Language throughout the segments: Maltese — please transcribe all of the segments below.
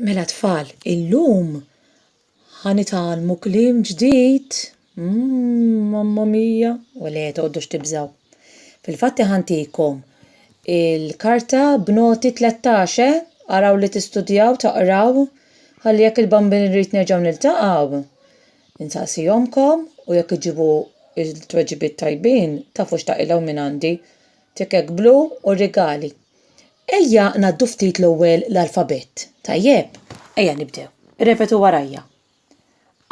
Mela tfal, illum ħa nitgħallmu kliem ġdid. Mmm, mamma mia! U le, toqgħodux tibżgħu. Fil-fatt iħantikom il-karta b'noti 13, eh? Araw li tistudjaw, taqraw, ħalli jekk il-Bambin Rit nerġgħu niltaqgħu, insaqsi ommkom u jekk iġġibu t-tweġibiet tajbin, tafu x'taqilgħu minn għandi, tikek blu u rigali. Ejja ngħaddu ftit l-ewwel l-alfabett, tajjeb? Ejja nibdew. Irrepetu warajja.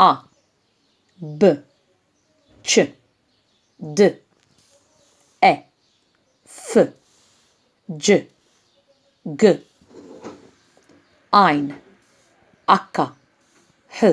A, B, C, D, E, F, G, G, Ajn, H, H,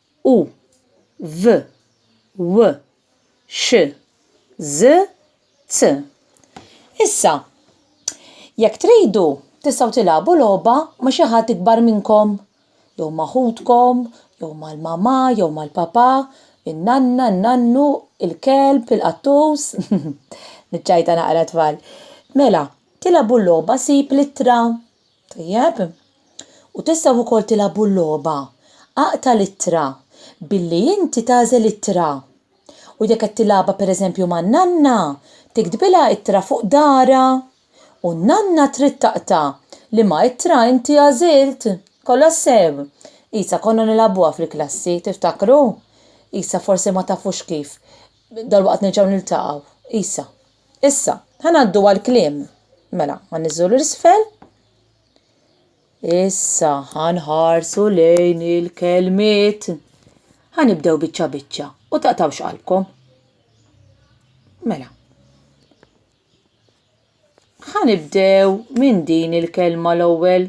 u, v, w, x, ż, z. Issa, jekk tridu, tistgħu tilgħabu logħba ma' xi ħadd ikbar minnkom, jew ma' ħutkom, jew mal-mamà, jew mal-papà, in-nanna, n-nannu, il-kelb, il-qattus. Niċċajta naqra, tfal. Mela, tilgħabu l-logħba Sib l-ittra. Tajjeb. U tistgħu wkoll tilgħabu l-logħba Aqta' l-ittra billi inti tagħżel ittra. U jekk qed tilgħabha pereżempju man-nanna, tiktbilha ittra fuq daharha. U n-nanna trid taqta' liema ittra inti għażilt. Kollox sew? Isa konna nilgħabuha fil-klassi, tiftakru? Isa forsi ma tafux kif. Dalwaqt nerġgħu niltaqgħu. Isa. Issa, ħa ngħaddu għall-kliem. Mela, ħa niżżu l-isfel. Issa ħa nħarsu lejn il-kelmiet. Ħa nibdew biċċa biċċa u taqtawx qalbkom. Mela. Ħa nibdew minn din il-kelma l-ewwel.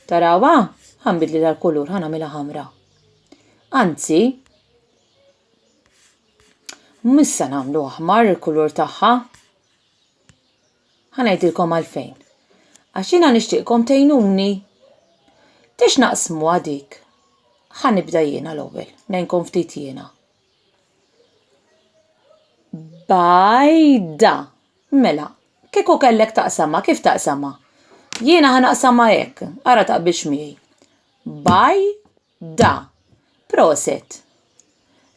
Tarawa? Ħa nbidli tal-kulur, ħa nagħmilha ħamra. Anzi, Mhux se nagħmlu aħmar il-kulur tagħha. Ħa ngħidilkom għalfejn. Għax jiena nixtieqkom tgħinuni. Tiex naqsmu għadik. Ħa nibda jiena l-ewwel, ngħinkom ftit jiena. Bajda. Mela, kieku kellek taqsama, kif taqsama? Jiena ħa naqsama hekk, ara taqbilx miegħi. Baj Da. Proset.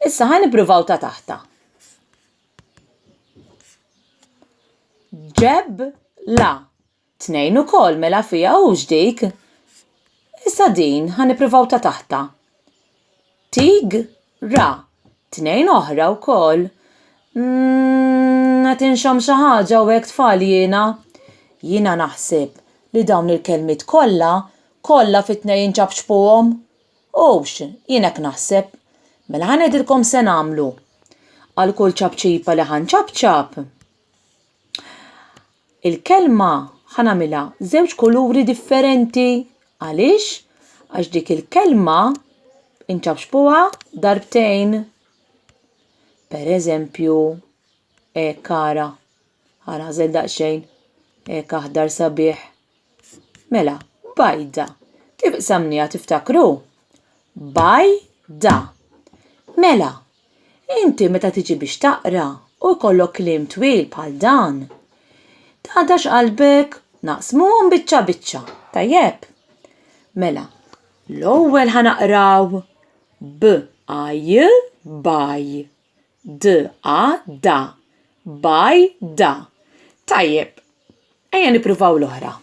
Issa ħa nippruvaw ta' taħta. Ġeb la. Tnejn ukoll mela fija hux dik. Issa din ħa nippruvaw ta' taħta. Tig Ra, tnejn oħra wkoll. Umm, qed inxomm xi ħaġa hawnhekk tfal jiena? Jiena naħseb li dawn il-kelmiet kollha, kollha fit-tnejn inċapċpuhom. Hux, jien hekk naħseb. Mela ħa ngħidilkom se nagħmlu. Għal kull ċapċipa li ħa nċapċap. il-kelma ħa nagħmilha żewġ kuluri differenti. Għaliex? Għax dik il-kelma inċaċpuha darbtejn. Per eżempju, hekk ara, ara hażel daqsxejn, hekk aħdar sabiħ. Mela, bajda. Kif qsamniha tiftakru? Bajda. Mela. Inti meta tiġi biex taqra u jkollok kliem twil bħal dan, tagħdax qalbek naqsmuhom biċċa biċċa, tajjeb? Mela, l-ewwel ħa naqraw b a j baj, d a da, baj da. Tajjeb, ejja nippruvaw l-oħra.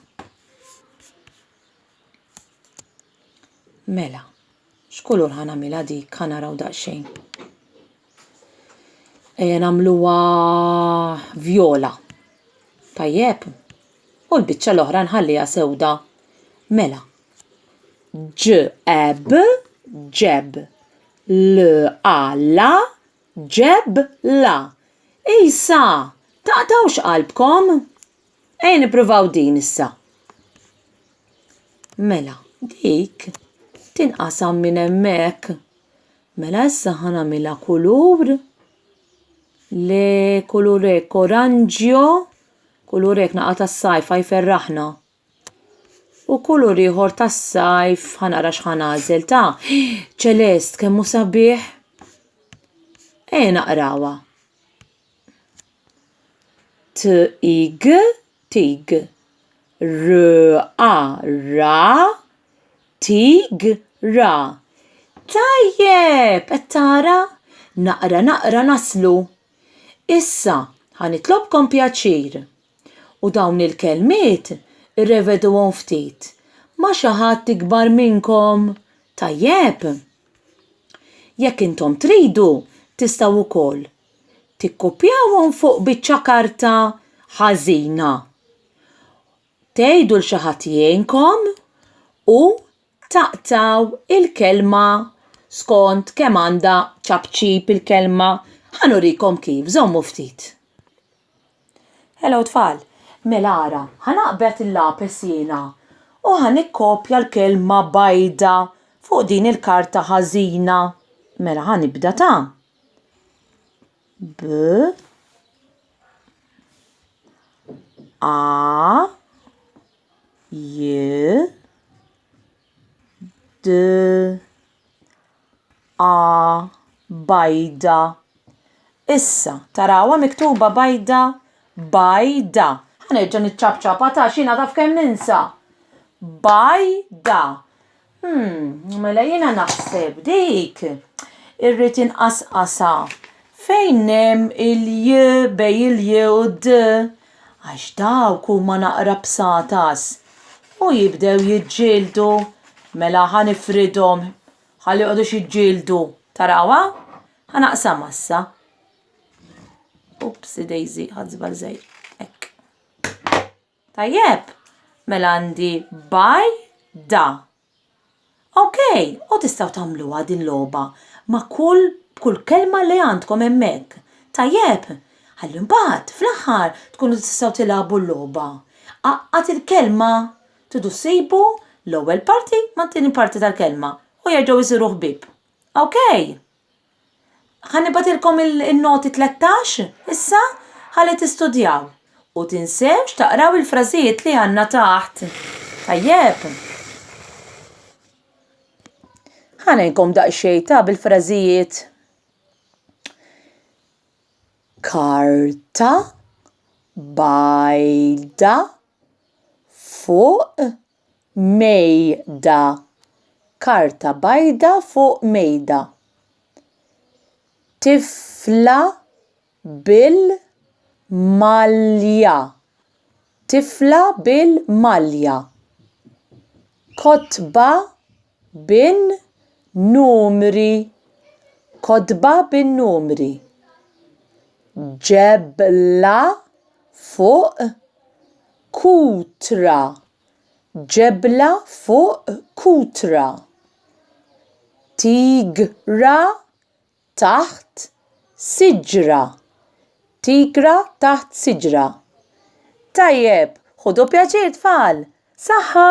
Mela. X'kulur ħa nagħmilha dik? Ħa naraw daqsxejn. Ejja nagħmluha vjola. Tajjeb. U l-biċċa l-oħra nħalliha sewda. Mela. Ġeb, ġeb. L alla ġeb la. Isa, taqtawx qalbkom? Ejja nippruvaw din issa. Mela, dik tinqasam minn hemmhekk. Mela issa ħanamilha kulur li kulur hekk oranġjo, kulur hekk naqa' tas-sajf ħa jferraħna. U kulur ieħor tas-sajf ħa nara x'ħa nagħżel ta! Ċelest kemm hu sabiħ! Ejja naqrawha. tig, tig, ra, ra, tigra. Tajjeb, qed tara? Naqra naqra naslu. Issa, ħa nitlobkom pjaċir u dawn il-kelmiet irreveduhom ftit ma' xi ħadd ikbar minnkom, tajjeb? Jekk intom tridu, tistgħu wkoll tikkupjawhom fuq biċċa karta ħażina. Tgħidu l xi ħadd jgħinkom u taqtaw il-kelma skont kemm għandha ċapċip il-kelma. Ħanurikom kif, żommu ftit. Hello tfal, mela ara, ħanaqbet il-lapes jiena u ħanikkopja l-kelma bajda fuq din il-karta ħażina. Mela ħanibda ta' B A J D A bajda. Issa, tarawa miktuba bajda bajda. Ħanerġa' niċċabċaba ta' xina taf kemm ninsa. Bajda. Hmm, mela jiena naħseb dik irrid inqasqasa fejn hemm il-j bej il-j u d għax dawk huma naqra bsatas u jibdew jiġġieldu mela ħa nifridhom ħalli jqogħdux jiġġieldu. Tarawha? Ħa naqsamha issa. Upsi dejżi, ħadt żball żgħir. Hekk. Tajjeb, mela għandi by da. Ok, u tistgħu tagħmluha din logħba ma' kull b'kull kelma li għandkom hemmhekk. Tajjeb, ħalli mbagħad fl-aħħar tkunu tistgħu tilagħbu l-logħba. Għaqqad il-kelma, tridu ssibu l-ewwel parti mat-tieni parti tal-kelma u jerġgħu jsiru ħbieb. Ok? Ħanibatilkom il-noti 13 issa ħalli tistudjaw u tinsewx taqraw il-frażijiet li għandna taħt. Tajjeb. Ħanejkom daqsxejn ta' bil-frażijiet. Karta bajda fuq mejda karta bajda fuq mejda tifla bil-malja tifla bil-malja kotba bin-numri kotba bin-numri ġebla fuq Kutra, ġebla fuq kutra. Tigra taħt siġra, tigra taħt siġra. Tajjeb, ħudu pjaċir tfal! Saħħa!